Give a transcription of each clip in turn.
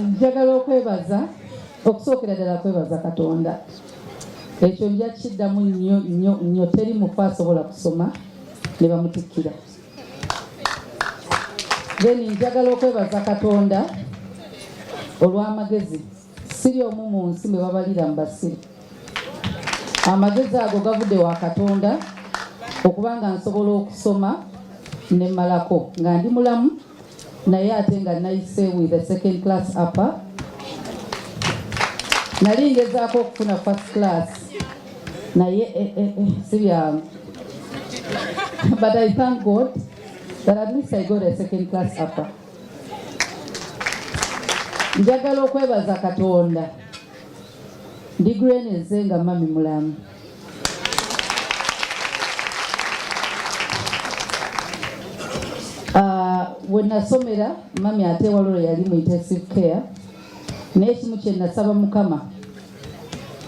njagala okwebaza okusookera ddala kwebaza katonda ekyo nja kiddamu nnyo nnyo nnyo teri mufu asobola kusoma ne bamutikkira then njagala okwebaza katonda olw'amagezi siri omu mu nsi mwe babalira mu basiri amagezi ago gavudde wa katonda okuba nga nsobola okusoma ne malako nga ndi mulamu naye ate nga nayise with a second class upper nali ngezaako okufuna first class naye eh, eh, eh, si byangu but i thank god that at least i got a second class upper njagala okwebaza katonda ndigreneze nga mami mulamu Ah, we nasomera mami ate waliwo yali mu intensive care naye ekimu kye nasaba mukama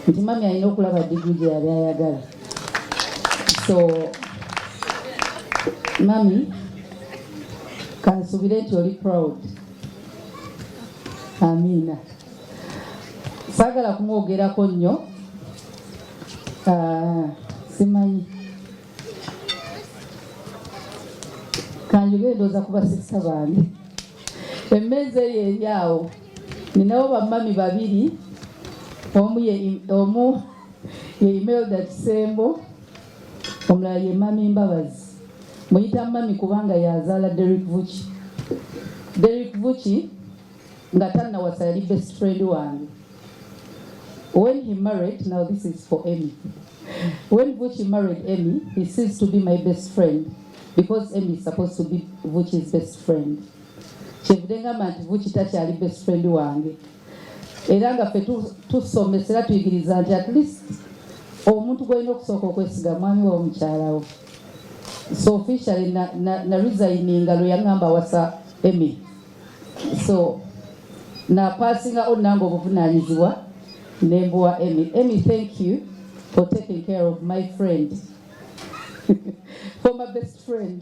nti mami alina okulaba digiri gye yali ayagala so mami kansubire nti oli proud amiina saagala kumwogerako nnyo Ah, simanyi kanjogere ndooza kuba sisa bange emmeeza eyo eri awo ninawo bamami babiri omu ye omu ye imelda kisembo omulala ye mami mbabazi muyita mami kubanga yazaala derik vuki derik vuki nga tannawasa yali best friend wange when he married now this is for Emmy when Vuchi married Emmy he ceased to be my best friend because Emmy is supposed to be Vuchi's best friend kyevude ngamba nti Vuchi takyali best friend wange era nga ffe tusomesa era tuyigiriza nti at least omuntu gwolina okusooka okwesiga mwami wa omukyalawo so officially na, na, na resigninga lwe yangamba wasa Emmy so napasinga o nange obuvunanyizibwa nembuwa emy emy thank you for taking care of my friend for my best friend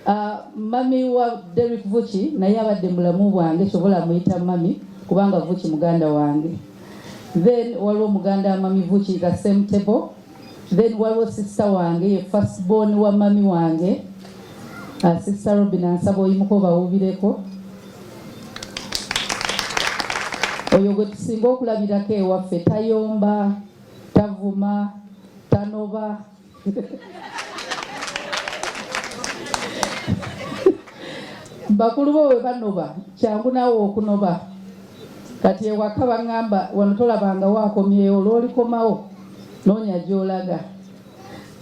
uh, mami wa Derek Vuchi naye abadde mulamu bwange sobola muyita mami kubanga Vuchi muganda wange then waliwo muganda mami Vuchi the same table then waliwo sisita wange ye first born wa mami wange uh, sisita robin ansaba oyimuka obawubireko oyo gwe tusinga okulabirako ewaffe tayomba tavuma tanoba bakulu bo bwe banoba kyangu naawe okunoba kati ewaka baŋŋamba wano tolabangawo akomyewo lwolikomawo noonya gyolaga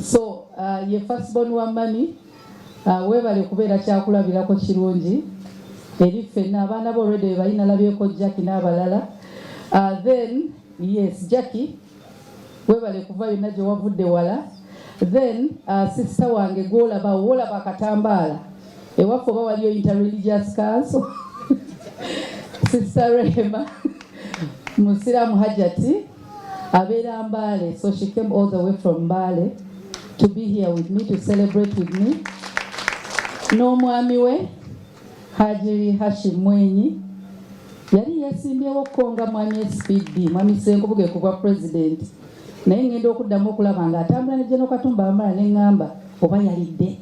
so uh, ye fasbon wa mami uh, webale kubeera kyakulabirako kirungi eri ffenna abaana bo olwedde bebalina labyeko jacki n'abalala uh, then yes jacki webale kuva yonna gye wavudde wala then uh, sister wange gwolaba wolaba akatambaala ewaffe oba waliyo interreligious council sister rehema musiramu hajati abeera mbaale so she came all the way from mbaale to be here with me to celebrate with me n'omwami we Haji Hashim Mwinyi yali yesimbyewo okukonga mwami SPD mwami Ssenkubuge ku bwa president naye ngenda okuddamu okulaba nga atambula ne General Katumba Wamala ne ngamba oba yalidde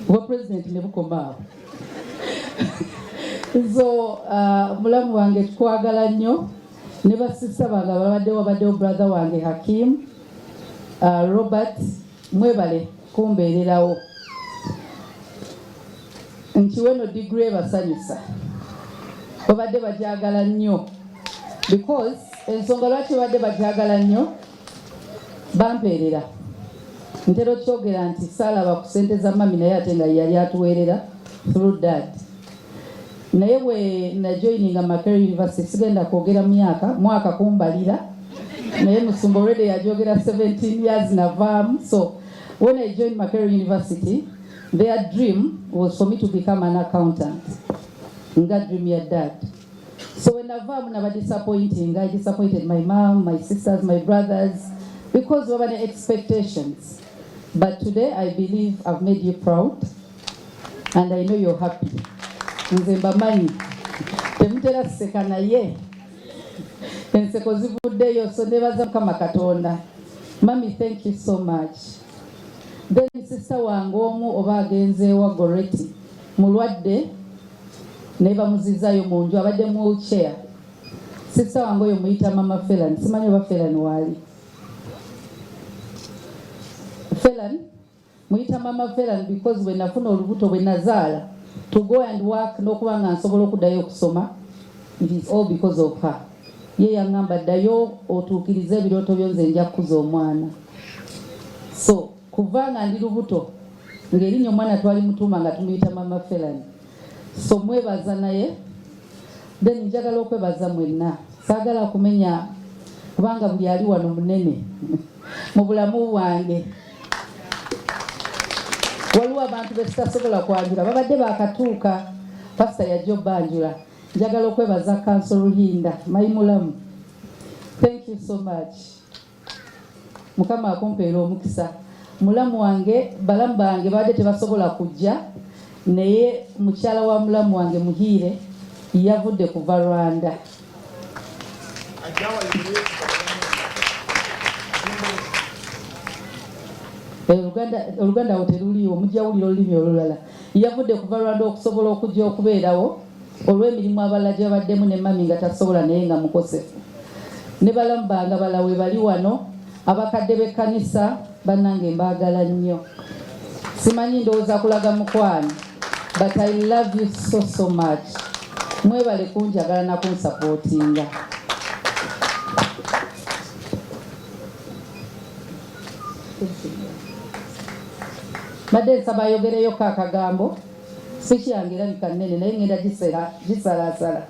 obwa president ne bukomaawo so uh, mulamu wange tukwagala nnyo ne basisa bange ababaddewo babaddewo brother wange Hakim uh, Robert Mwebale kumbeererawo nkiwe no digiri ebasanyusa babadde bagyagala nnyo because ensonga lwaki babadde bagyagala nnyo bampeerera ntera okyogera nti saalaba ku sente za mami naye ate nga yali atuweerera through dad naye bwe najoininga Makerere University sigenda kwogera myaka mwaka kumbalira naye musumba already yajogera 17 years navaamu so when I joined Makerere University their dream was for me to become an accountant nga dream ya dad so when navaamu naba disappointing I disappointed my mom my sisters my brothers because waba ne expectations but today I believe I've made you proud and I know you're happy. Nze mbamanyi temutera seka naye enseko zivuddeyo, so nebaza Mukama Katonda. Mami, thank you so much. Then sister wange omu oba agenze wa Goreti mulwadde naye bamuzizayo mu nju abadde mu wheelchair. Sister wange oyo muyita mama Felan, simanyi oba Felan waali Felan muyita mama Veran because bwe nafuna olubuto bwe nazaala to go and work n'okuba nga nsobola okuddayo okusoma it is all because of her ye yaŋŋamba ddayo otuukirize ebirooto byo nze nja kukuza omwana so kuva nga ndi lubuto ng'erinnya omwana twali mutuuma nga tumuyita mama Veran so mwebaza naye then njagala okwebaza mwenna saagala kumenya kubanga buli ali wano munene mu bulamu bwange waliwo abantu betutasobola kwanjula babadde bakatuuka pasita yajja obanjula njagala okwebaza kanso luhinda mayimulamu thank you so much mukama akumpeera omukisa mulamu wange balamu bange babadde tebasobola kujja naye mukyala wa mulamu wange muhiire yavudde kuva rwanda oluganda awo teruliiwo mujawulira olulimi olulala yavudde kuva rwanda okusobola okujja okubeerawo olw'emirimu abalala gyabaddemu ne mami nga tasobola naye nga mukosefu ne balamu bange abala webali wano abakadde b'ekkanisa Bannange mbaagala nnyo, simanyi ndowooza kulaga mukwano but I love you so so much. Mwebale kunjagala na kunsapootinga. Mbadde nsaba ayogereyoko akagambo, sikyange erabika nnene naye ngenda gisalaasala.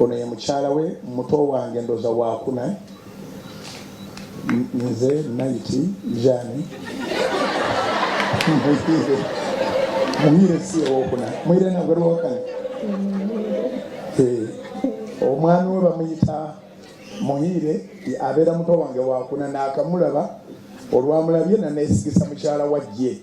ono ye mukyala we muto wange ndoza wakuna nze nayiti jani mumire si owokuna mwire nagwerwokana eh, omwami we bamuyita muhiire abeera muto wange wakuna nakamulaba olwamulabye nanesigisa mukyala wajje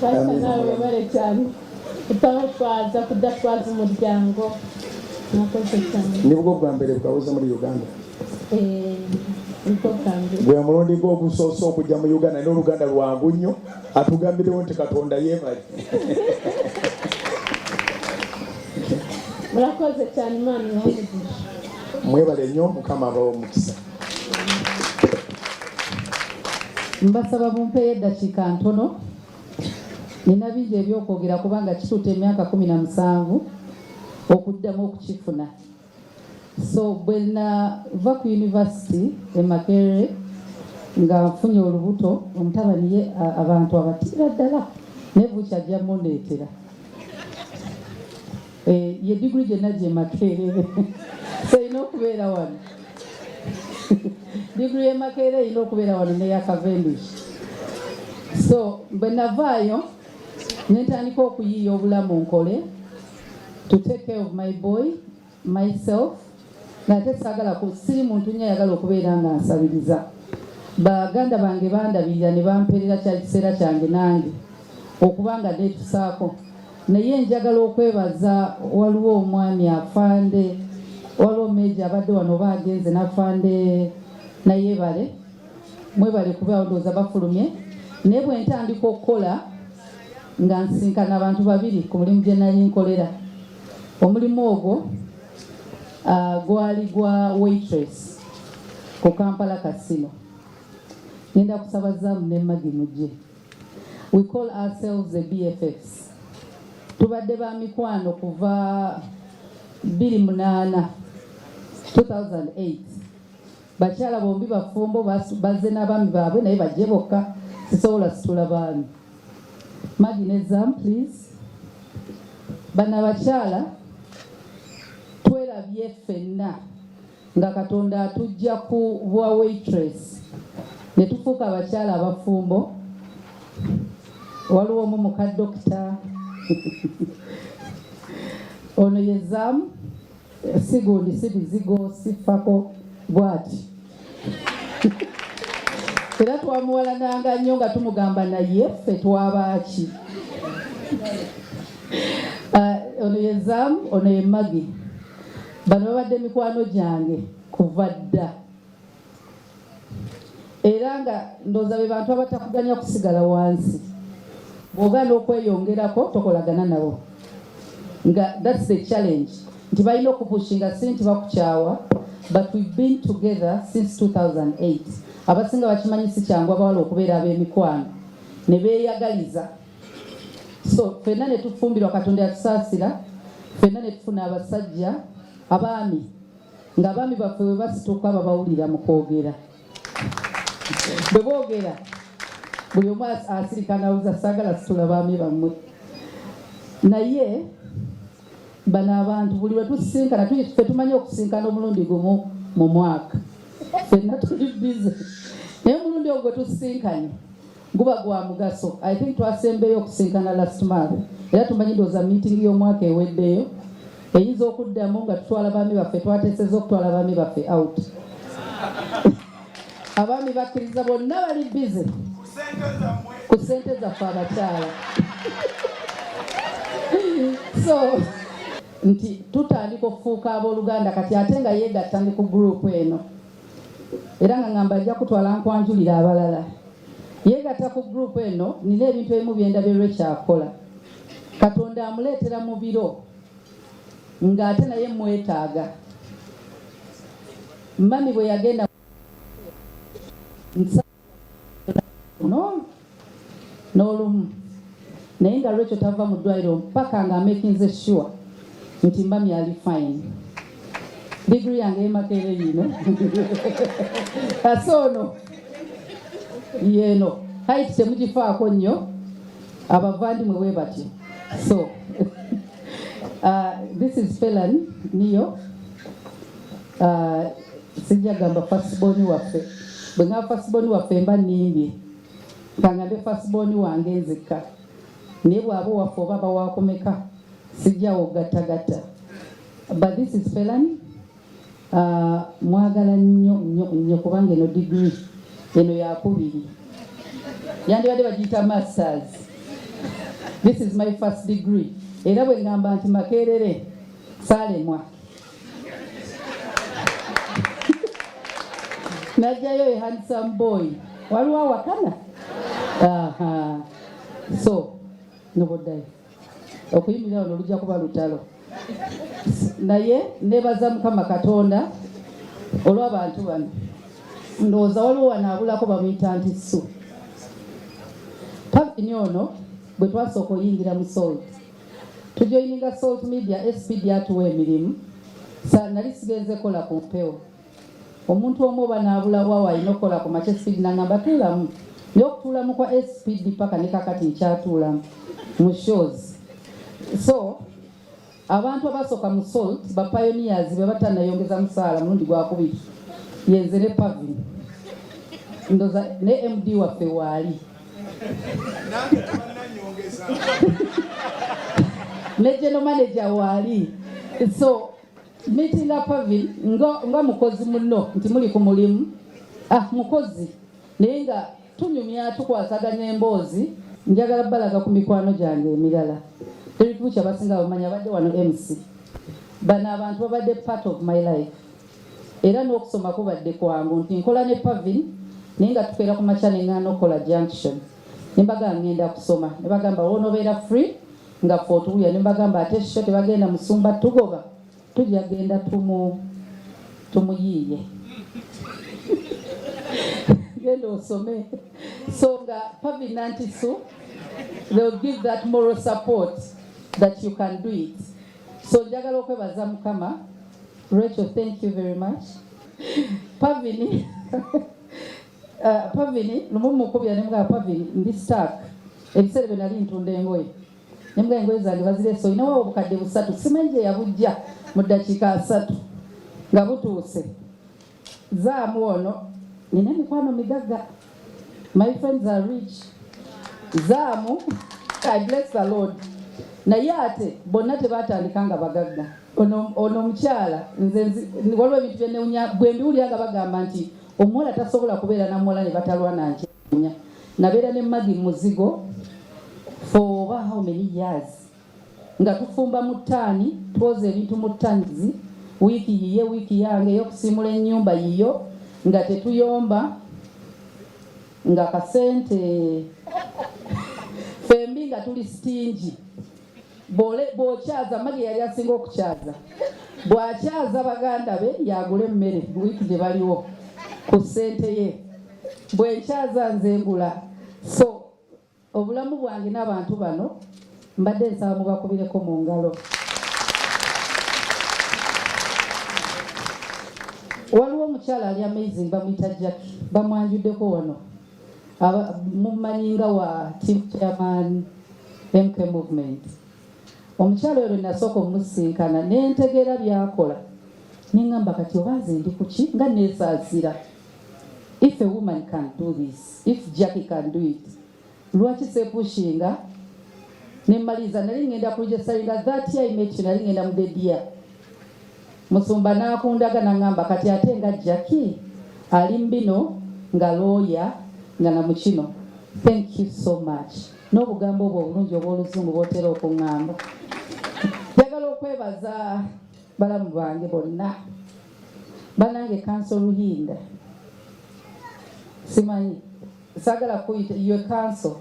basa nawe webale cyane utaho twaza kudatwaza umuryango mwakoze cyane nibwo bwa mbere bwabuze muri uganda eh, gwe mulundi gwe ogusoose okujja mu uganda naye oluganda lwangu nnyo atugambirewo nti katonda yebali murakoze cyane imana mwebale nnyo mukama abawo omukisa mbasaba bumpeeyo eddakiika ntono nina bingi ebyokwogera kubanga kituuta emyaka kumi na musanvu okuddamu okukifuna so bwe nava ku yunivasiti e makerere nga nfunye olubuto omutabani ye abantu abatiira ddala nebukyajja mundeetera Eh, ye diguli gye najja emakeerere erina okubeera wano diguli yemakeerere erina okubeera wano neyakavenduki so bwe navaayo nentandika okuyiiya obulamu nkole to take care of my boy myself nate sagala ku siri muntu nnyo ayagala okubeera nga nsabiriza baganda bange bandabirira ne bampeerera kya kiseera kyange nange okuba nga neetusaako naye njagala okwebaza waliwo omwami afande waliwo meeji abadde wano oba agenze nafande nayebale mwebale kuba ndowooza bafulumye naye bwe ntandika okukola nga nsinkana abantu babiri ku mulimu gye nali nkolera omulimu ogwo uh, gwali gwa waitress ku Kampala Casino. Nenda kusaba zamu ne magi mujje. We call ourselves the BFFs. Tubadde ba mikwano kuva 28 2008 bakyala bombi bafumbo bazze n'abaami baabwe naye bajje bokka sisobola situla baami Margin exam please. Bana bakyala twelabye ffenna nga Katonda atujja ku bwa waitress ne tufuuka abakyala abafumbo. Waliwo omu muka dokita ono ye zaamu sigundi sibizigo siffako bwati era twamuwalananga nnyo nga tumugamba naye ffe twabaaki ah, ono ye zam ono ye magi bano babadde mikwano gyange kuva dda era nga ndoza be bantu abatakuganya kusigala wansi bwogana okweyongerako tokolagana nabo nga that's the challenge nti balina okupushinga si nti bakukyawa but we've been together since 2008 abasinga bakimanyi si kyangu abawala okubeera ab'emikwano ne beeyagaliza so fenna ne tufumbirwa katonda yatusaasira fenna ne tufuna abasajja abaami nga abaami baffe bwe basituka babawulira mu kwogera bwe boogera buli omu asirika nawuza saagala situla baami bammwe naye bano abantu buli lwe tusisinkana fe tumanyi okusinkana omulundi gumu mu mwaka fenna tuli bize naye omulundi ogwo tusisinkanye guba gwa mugaso i think twasembeyo okusinkana last month era tumanyi ndooza meeting y'omwaka eweddeyo eyinza okuddamu nga tutwala baami baffe twateseza okutwala baami baffe out abaami bakkiriza bonna bali bize ku sente zaffe abakyala so nti tutandika okufuuka abooluganda kati ate nga yeegatta ndi ku gurupu eno era nga ngamba ajja kutwala nkwanjulira abalala yeegatta ku gurupu eno nina ebintu ebimu byendabye lwekyakola katonda amuleetera mu biro ng'ate naye mwetaaga mami bwe yagenda nsa n'olumu naye nga lwekyo tava mu ddwaliro mpaka nga amakinze sure nti mba myali fine digiri yange emakeere yino kasa ono yeeno haiti temugifaako nnyo abavandimwe we batyo so uh, this is felan niyo ah, sijja gamba fasiboni waffe bwe ngamba fasiboni waffe mba nimbye kangambe fasiboni wange nzikka naye bwaba waffe oba bawakumeka sijjawo gattagatta but this is felani uh, ah, mwagala nnyo nnyo nnyo kubanga eno digiri eno yakubiri yandibadde bagiyita masters this is my first degree era bwe ngamba nti makerere salemwa najjayo e handsome boy waliwo awakana so noboddayo okuyimirira wano lujja kuba lutalo naye nebaza mukama katonda olw'abantu bano ndowooza waliwo wanaabulako bamuyita nti su pavini ono bwe twasooka oyingira mu sooli tujoyininga salt media spd atuwa emirimu nali sigenze kola ku mpewo omuntu omu oba naabula wawo alina okukola ku makya spd nangamba tuulamu naye okutuulamu kwa spd paka ne kakati nkyatuulamu mu shows so abantu abasooka mu salt bapayoniyazi be batanayongeza musaala mulundi gwakubiri yenze ne pavin ndoza ne md waffe waali Regional manager waali so meeting up Pavin nga, nga mukozi muno nti muli ku mulimu ah, mukozi naye nga tunyumya tukwasaganya emboozi njagala balaga ku mikwano gyange emirala teri kubuki abasinga bamanya abadde wano mc bano abantu babadde part of my life era n'okusoma kubadde kwangu nti nkola ne Pavin naye nga tukeera ku makya ne ng'ana okukola junction ne mbagamba ngenda kusoma ne bagamba woonobeera free nga fe otuwuya ne mbagamba ate sho tebagenda musumba tugoba tujja genda tumu tumuyiiye genda osome so nga Pavin Nantisu they will give that moral support that you can do it so njagala okwebaza mukama Rachel, thank you very much. Pavini. uh, Pavini, lumu mukubya ne mga Pavini, ndi stuck. Ebiseera bye nali ntunda engoye. Ne mga engoye zange bazire so inawo obukadde busatu. Simanyi gye yabujja mu ddakiika asatu nga butuuse. Zaamu ono nina emikwano migagga. My friends are rich. Zaamu I bless the Lord. Naye ate bonna tebatandika nga bagagga. Ono ono omukyala nze waliwo ebintu bye newunya bwe mbiwulira nga bagamba nti omuwala tasobola kubeera na muwala ne batalwana nkyewunya. Nabeera ne Maggie muzigo for over how many years. nga tufumba mu ttaani, twoza ebintu mu ttanizi, wiiki yiye, wiiki yange ey'okusiimula ennyumba yiyo nga tetuyomba nga kasente fembi nga tuli sitingi bwokyaza magi yali asinga okukyaza bwakyaza baganda be yagula emmere wiiki gye baliwo ku ssente ye bwenkyaza nze ngula so Obulamu bwange n'abantu bano mbadde nsaba mubakubireko mu ngalo. Waliwo omukyala ali amazing bamuyita Jackie, bamwanjuddeko wano mumanyi nga wa team chairman MK movement. Omukyala oyo lwe nasooka omusinkana ne ntegeera byakola ne ngamba kati oba nze ndi kuki nga neesaasira if a woman can do this if Jackie can do it lwaki sepushinga nemaliza nali ngenda kujesainga that year I met you nali ngenda mudedia musumba nakundaga nangamba kati ate nga Jackie ali mbino nga looya nga na mukino thank you so much n'obugambo obwo obulungi obw'oluzungu bwotera okuŋŋamba njagala okwebaza balamu bange bonna banange kanso luhinda simanyi sagala kuyita iwe kanso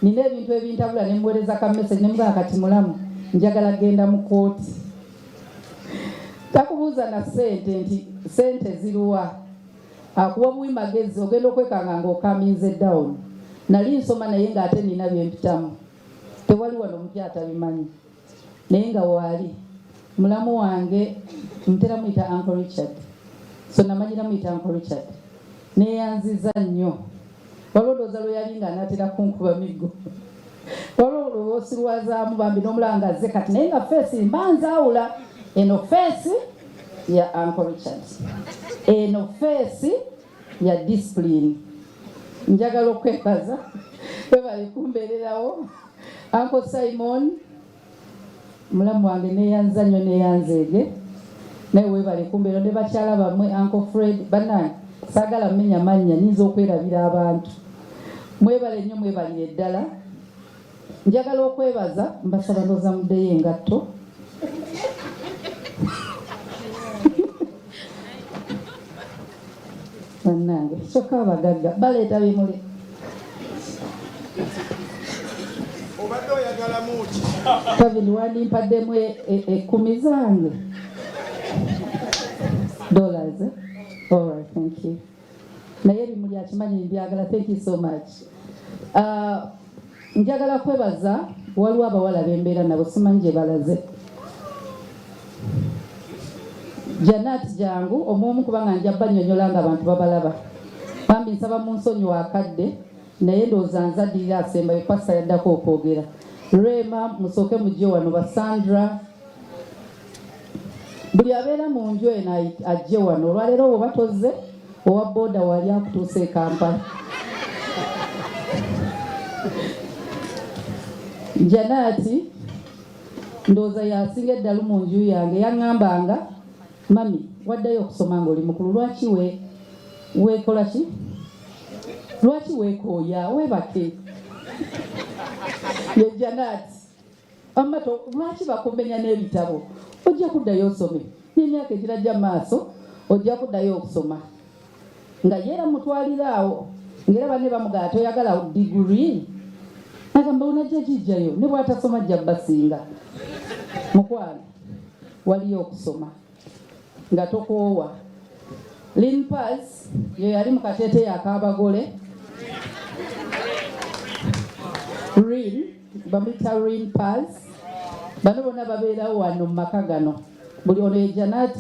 nina ebintu ebintabula nemuwereza ka message nemugala kati mulamu njagala genda mu kooti takubuuza na sente nti sente ziruwa akuwa buwi magezi ogenda okwekanga nga okaminze down nali nsoma naye nga ate nina byempitamu tewali wano omupya atabimanyi naye nga waali mulamu wange ntera muyita uncle richard so namanyira muyita uncle richard neyanziza nnyo waliwo looza lwe yali nga anatera kunkuba miggo waliwo lwosilwazaamu bambi nomulanga ze kati naye nga feesi mba nzaawula eno feesi ya uncle richard eno feesi ya disipulini njagala okwebaza webali kumbeererawo anko simon mulamu wange neyanza nnyo neyanzeege naye webali kumbeera ne bakyala bamwe anko fred banange sagala mumenya mannya nyinza okwerabira abantu mwebale nnyo mwebalire ddala Njagala okwebaza mbasaba noza muddeyo engatto bannange kyokka abagagga baleeta bimuli obadde oyagalamu ki kabiri wandimpademu ekumi e, e zange dollars all right thank you naye bimuli akimanyi mbyagala thank you so much uh, njagala kwebaza waliwo abawala bembeera nabo simanyi gye balaze janat jangu omuomu kubanga nja banyonyola nga abantu babalaba bambi nsaba mu nsonyi wakadde naye ndowooza nzaddirira asembayo pasa yaddako okwogera rema musooke mujje wano basandra buli abeera mu nju eno ajje wano olwaleero woba tozze owa booda wali akutuusa e kampala janaati ndowooza yasinga eddalu mu nju yange yaŋŋambanga mami waddayo okusoma nga oli mukulu lwaki we weekola ki lwaki weekooya weebake ye janaati amato lwaki bakumbenya n'ebitabo ojja kuddayo osome n'emyaka egirajja maaso ojja kuddayo okusoma nga yeera mutwalira awo ngaera banne bamugaa toyagala digiri agamba onajja gijjayo ne bwatasoma jja basinga mukwano waliyo okusoma nga tokoowa lin pas ye yali mu kateete yakabagole rin bamuyita rin pas bano bona babeerawo wano mu maka gano buli ono ye janat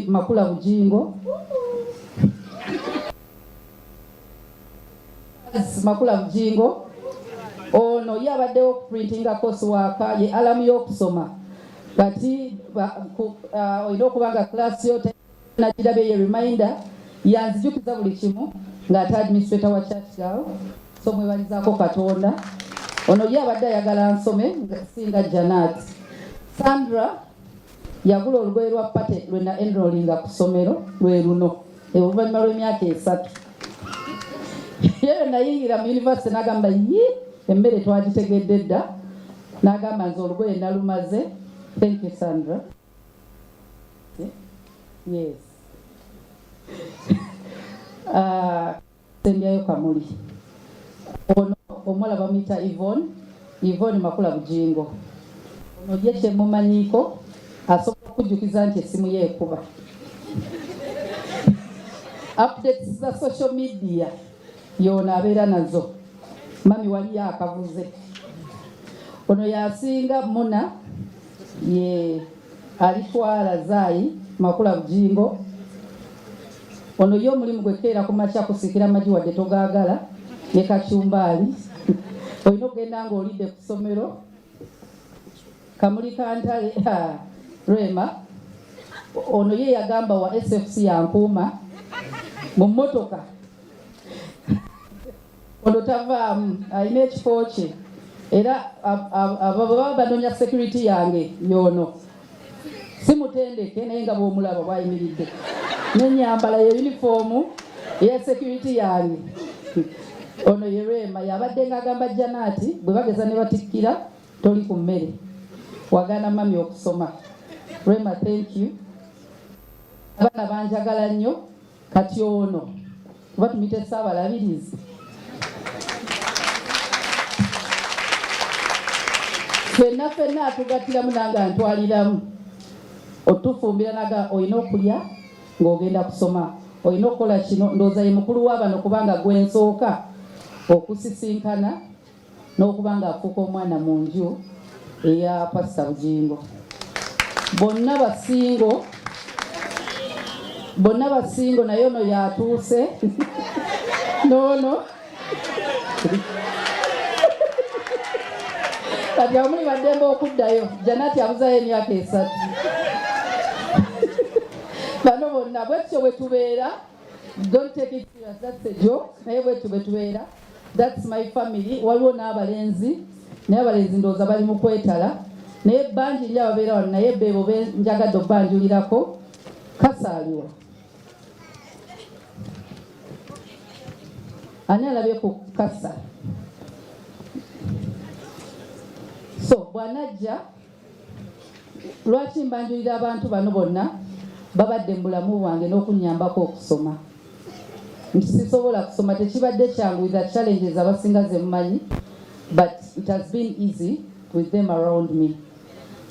makula bujingo Makula Bujingo ono ye abaddewo ku printinga course waaka ye alamu y'okusoma kati uh, olina okuba nga class yo nakirabye ye reminder yanzijukiza buli kimu ng'ate administrator wa church girl so mwebalizaako katonda ono ye abadde ayagala nsome singa janat sandra Yagula olugoye lwa pate lwe na enrolinga ku ssomero lwe luno oluvannyuma lw'emyaka esatu yeye nayingira mu yunivasite n'agamba yi emmere twagitegedde dda n'agamba nze olugoye nalumaze thank you sandra yes uh, Sembyayo Kamuli. Ono omuwala bamuyita Yvonne, Yvonne Makula Bujingo. Ono ye kyemumanyiiko asobola okujjukiza nti essimu ye ekuba. Updates za social media yoona abeera nazo. Mami waliyo akabuze. Ono yasinga Muna ye alitwala Zaayi Makula Bujingo. Ono ye omulimu gwe keera ku makya kusikira amagi wadde togaagala ne kacumbaali olina okugenda nga olidde ku ssomero kamuli kantale rema ono ye yagamba wa sfc yankuuma mu mmotoka ono tavaamu alina ekifo kye era baba banonya security yange yono si mutendeke naye nga bwomulaba bwayimiridde nenyambala ye yunifoomu eya security yange ono ye rema yabadde nga agamba janaati bwe bageza ne batikkira toli ku mmere wagana mami okusoma rema thank you abaana banjagala nnyo kati ono kuba tumite saabalabirizi fenna fenna atugattiramu nange antwaliramu otufumbira naga olina okulya ng'ogenda kusoma olina okukola kino ndooza ye mukulu wa bano kubanga gwensooka okusisinkana n'okuba ng'afuuka omwana mu nju eya pasita bugingo bonna basingo bonna basingo naye ono yatuuse noono kati amuli baddembe okuddayo janati abuzayo emyaka esatu bano bonna bwekityo bwetubeera don't take it serious that's a joke naye bwetyo bwetubeera That's my family. Waliwo n'abalenzi naye abalenzi ndowooza bali mu kwetala naye bangi nyo ababeera wano naye beebo benjagadde okubanjulirako kasaaliwa ani alabye ku kasa so bwanajja Lwaki mbanjulira abantu bano bonna babadde mu bulamu bwange n'okunnyambako okusoma nti sisobola kusoma tekibadde kyangu with the challenges abasinga ze mumanyi but it has been easy with them around me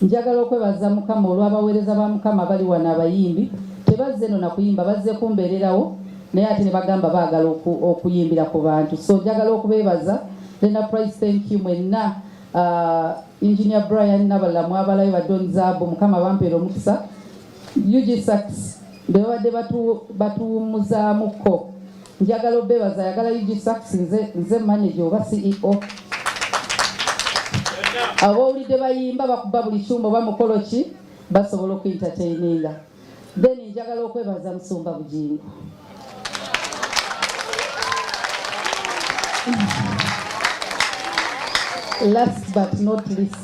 njagala okwebaza mukama olw'abaweereza ba mukama bali wano abayimbi tebazze no na kuyimba bazze kumbeererawo naye ate ne bagamba baagala okuyimbira ku bantu so njagala okubeebaza lena price thank you mwenna uh, engineer Brian nabalala mwabalayo ba Don Zabu mukama bampeera omukisa UG Sachs bebabadde batuwumuzaamuko njagala obebaza ayagala UG Sachs nze, nze manager oba CEO abowulidde bayimba bakuba buli kyuma oba mukolo ki basobola okuentertaininga Then njagala okwebaza Musumba Bugingo last but not least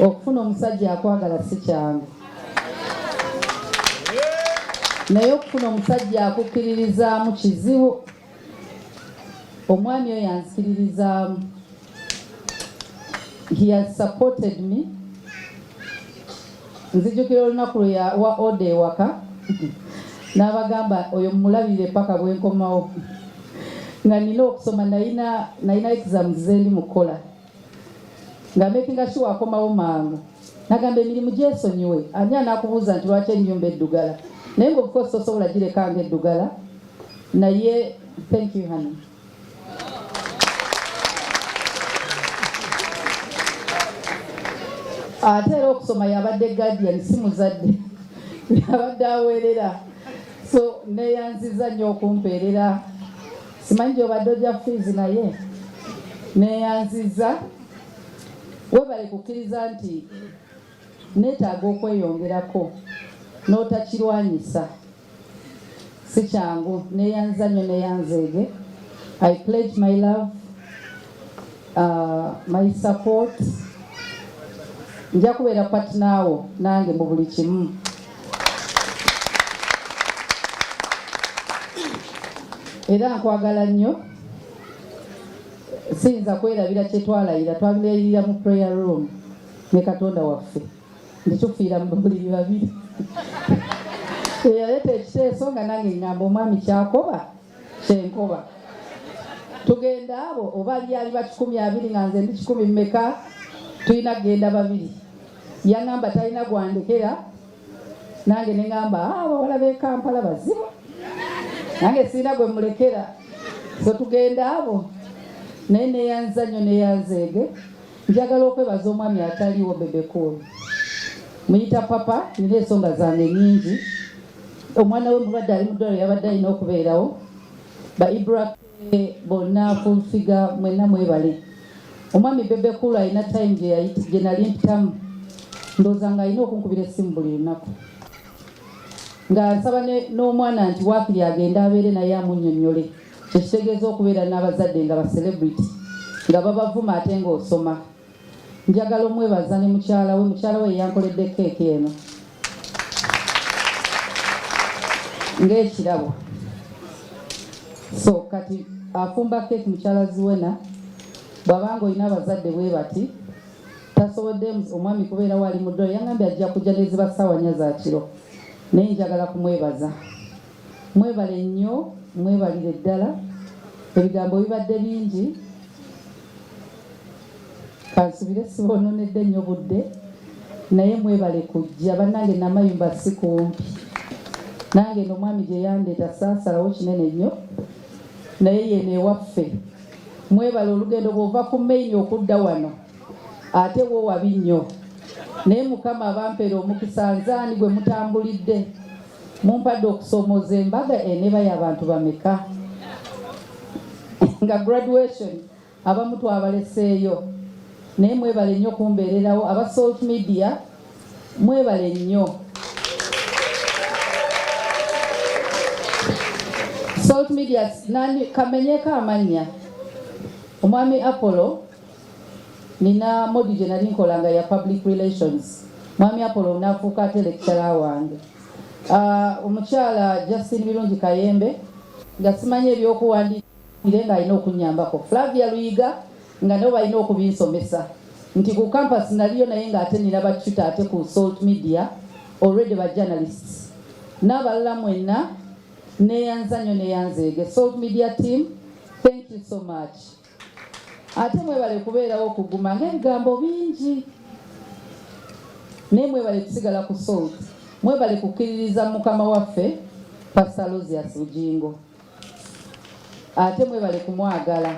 okufuna omusajja akwagala si kyangu naye okufuna omusajja akukkiririzaamu kizibu omwami oyo anzikiririzaamu he has supported me nzijukira olunaku lwe yawa oda ewaka n'abagamba oyo mumulabirire paka bwenkomawo nga nina okusoma nalina exams zendi mukukola nga makinga sure akomawo mangu nagamba emirimu gyesonyiwe ani anakubuuza nti lwaki ennyumba eddugala naye nga obukosi tosobola gireka nga eddugala naye thank you honey ate era okusoma yabadde guardian si muzadde yabadde aweerera so neyanziza nnyo okumpeerera simanyi gyobadde ojja fiizi naye neyanziza webale kukkiriza nti neetaaga okweyongerako n'otakirwanyisa si kyangu neyanza nyo neyanzeege i pledge my love uh, my support nja kubeera patinaawo nange mu buli kimu era nkwagala nnyo siyinza kwerabira kyetwalayira twabilayirira mu prayer room ne katonda waffe nditufiira mu buliri babiri eyaleeta ekiteeso nga nange ngamba omwami kyakoba kyenkoba tugenda abo oba lyali bakikumi abiri nga nze ndi kikumi mmeka tulina kugenda babiri yaŋamba talina gwandekera nange neŋamba ah, abawala bekampala bazibu nange sirina gwe mulekera so tugenda abo naye neyanza nyo neyanzeege Njagala okwebaza omwami ataliwo Bebe Cool. Muyita papa nina ensonga zange nyingi. Omwana we mulwadde ali mu ddwaliro yabadde alina okubeerawo. Ba Ibra bonna full figure mwenna mwebale. Omwami Bebe Cool alina time gye nali mpitamu ndowooza nga alina okunkubira essimu buli lunaku nga nsaba n'omwana nti waakiri agende abeere naye amunyonnyole Ekitegeeza okubeera n'abazadde nga ba celebrity nga babavuma ate ng'osoma. Njagala omwebaza ne mukyala we, mukyala we yankoledde keeki eno ng'ekirabo. So kati afumba keeki mukyala Zuena bw'aba ng'olina abazadde bwe bati tasobodde omwami kubeera wali mu ddwaliro yangambye ajja kujja ne ziba ssaawa nnya za kiro naye njagala kumwebaza. Mwebale nnyo mwebalire ddala ebigambo bibadde bingi kansubire sibononedde nnyo budde naye mwebale kujja bannange namayumba si kumpi nange no omwami gye yandeeta saasalawo kinene nnyo naye yeno ewaffe mwebale olugendo bwova ku maini okudda wano ate wo wabi nnyo naye mukama abampere omukisa nzaani gwe mutambulidde Mumpadde okusomooza embaga eneba y'abantu bameka nga graduation abamu twabaleseeyo naye mwebale nnyo kumbeererawo aba Salt Media mwebale nnyo Salt Media nani kamenyeko amannya omwami Apollo Nina modi gye nali nkola nga ya public relations, Mwami Apollo n'afuuka ate lecturer wange. Uh, omukyala Justine Birungi Kayembe nga simanyi ebyokuwandiika ire nga alina okunyambako Flavia Luyiga nga nabo balina okubinsomesa nti ku campus naliyo naye nga ate nina batuta ate ku salt media already ba journalists n'abalala mwenna neyanzanyo neyanzeege salt media team thank you so much ate mwebale kubeerawo okuguma ng'ebigambo bingi naye mwebale kusigala ku salt mwebale kukkiririza mukama waffe pasta losias bugingo ate mwebale kumwagala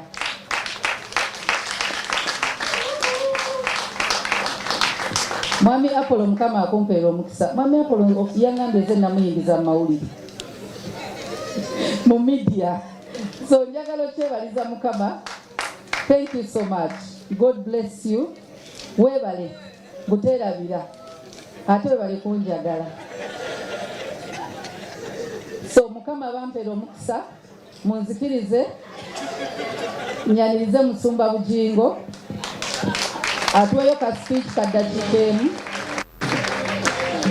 mwami apolo mukama akumpeera omukisa mwami apolo yangambye ze namuyingiza mu mawulire mu midia so njagala okyebaliza mukama thank you so much god bless you webale guterabira ate webale kunjagala so mukama bampera omukisa munzikirize nyanirize musumba bugingo atuweyo ka speech kaddakiika emu